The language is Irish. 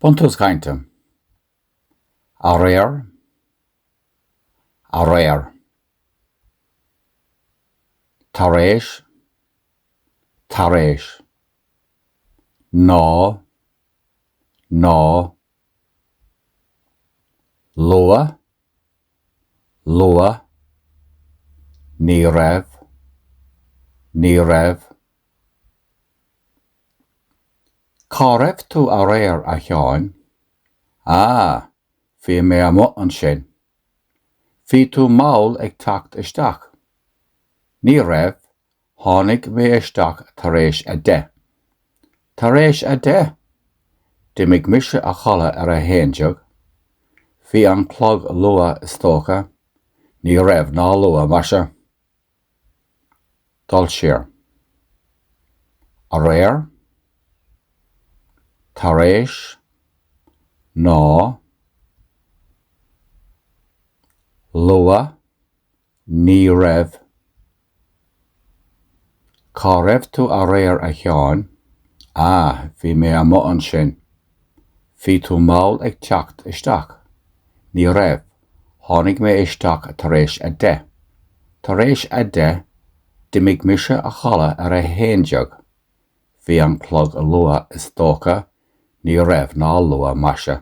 Buntús cainte. Aréir. Aréir. Tar éis. Tar éis. Ná. Ná. Luath. Luath. Ní raibh. Ní raibh. Cá raibh tú aréir, a Sheáin? Ah, bhí mé amuigh ansin. Bhí tú mall ag teacht isteach. Ní raibh, tháinig mé isteach tar éis a deich. Tar éis a deich! D'imigh mise a chodladh ar a haon déag. Bhí an clog luath is dócha. Ní raibh ná luath, maise. Dul siar. Aréir. Tar éis. Ná. Luath. Ní raibh. Cá raibh tú aréir a Sheáin? Ah, bhí mé amuigh ansin. Bhí tú mall ag teacht isteach. Ní raibh, tháinig mé isteach tar éis a deich. Tar éis a deich, d'imigh mise a chodladh ar a haon déag. Bhí an clog luath is dócha, ní raibh ná luath maise.